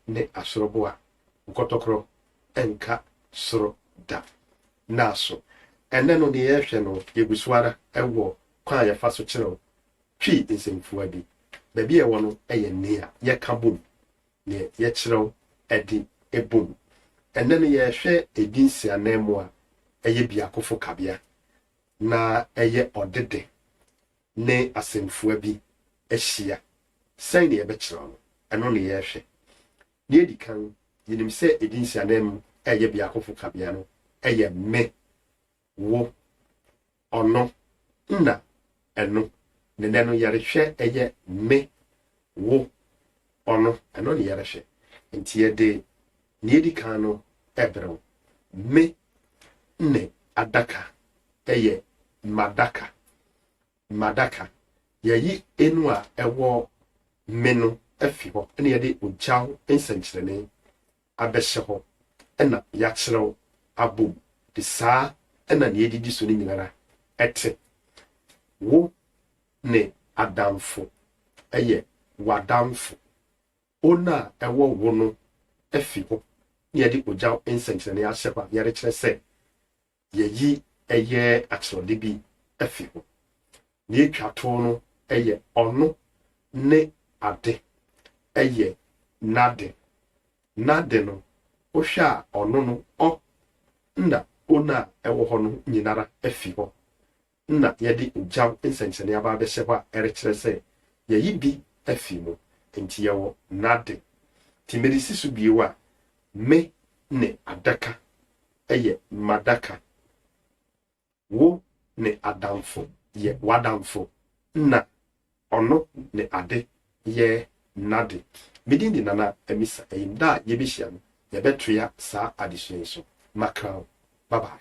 ne asoro bo a, nkɔtɔkorɔ nka soro da. Naaso, ɛnnɛ no, deɛ yɛrehwɛ no, yɛgu so ara wɔ kwan a yɛfa so kyerɛw Twi nsɛmfua bi. Baabi a ɛwɔ no yɛ nea yɛka bom, nea yɛkyerɛw de bom. Ɛnnɛ no, yɛrehwɛ edin nsiananmu a ɛyɛ biakofo kabea, na ɛyɛ ɔde de. ne asɛmfua bi ahyia. Sɛn na yɛbɛkyerɛw no? Ɛno na yɛrehwɛ. Nea edi kan, yenim sɛ edin si ananmu a ɛyɛ biakofo kabea no yɛ me, wo, ɔno, na ɛno. Na nnɛ no, yɛrehwɛ ɛyɛ me, wo, ɔno. Ɛno na yɛrehwɛ. Enti yɛde Nea edi kan no, ɛberew. Me ne adaka yɛ m'adaka. M'adaka. Yɛayi enu a ɛwɔ me no afi hɔ na yɛde ogyaw nsɛnkyerɛnne abɛhyɛ hɔ na yɛakyerɛw abom. Saa na nea edidi so no nyinara te. Wo ne adamfo yɛ w'adamfo. Wɔn a ɛwɔ wo no afi hɔ, na yɛde ogya nsɛnkyerɛnne ahyɛ hɔ a yɛrekyerɛ sɛ yɛayi ɛyɛ akyerɛwde bi afi hɔ. Nea etwa to no yɛ ɔno ne ade, ɛyɛ n'ade. N'ade no, wohwɛ a ɔno no ɔ na wɔn a ɛwɔ hɔ no nyinara afi hɔ. na yɛde ogyaw nsɛnkyerɛnne aba abɛhyɛ hɔ a ɛrekyerɛ sɛ yɛayi bi afi mu, enti yɛwɔ n'ade. Enti mede si so bio a, me ne adaka yɛ m'adaka, wo ne adamfo yɛ w'adamfo, na ɔno ne ade yɛ n'ade. Me din de Nana Amisa Ayim. Da a yebehyia no, yɛbɛtoa saa adesua yi so. Makra wo. Bye bye.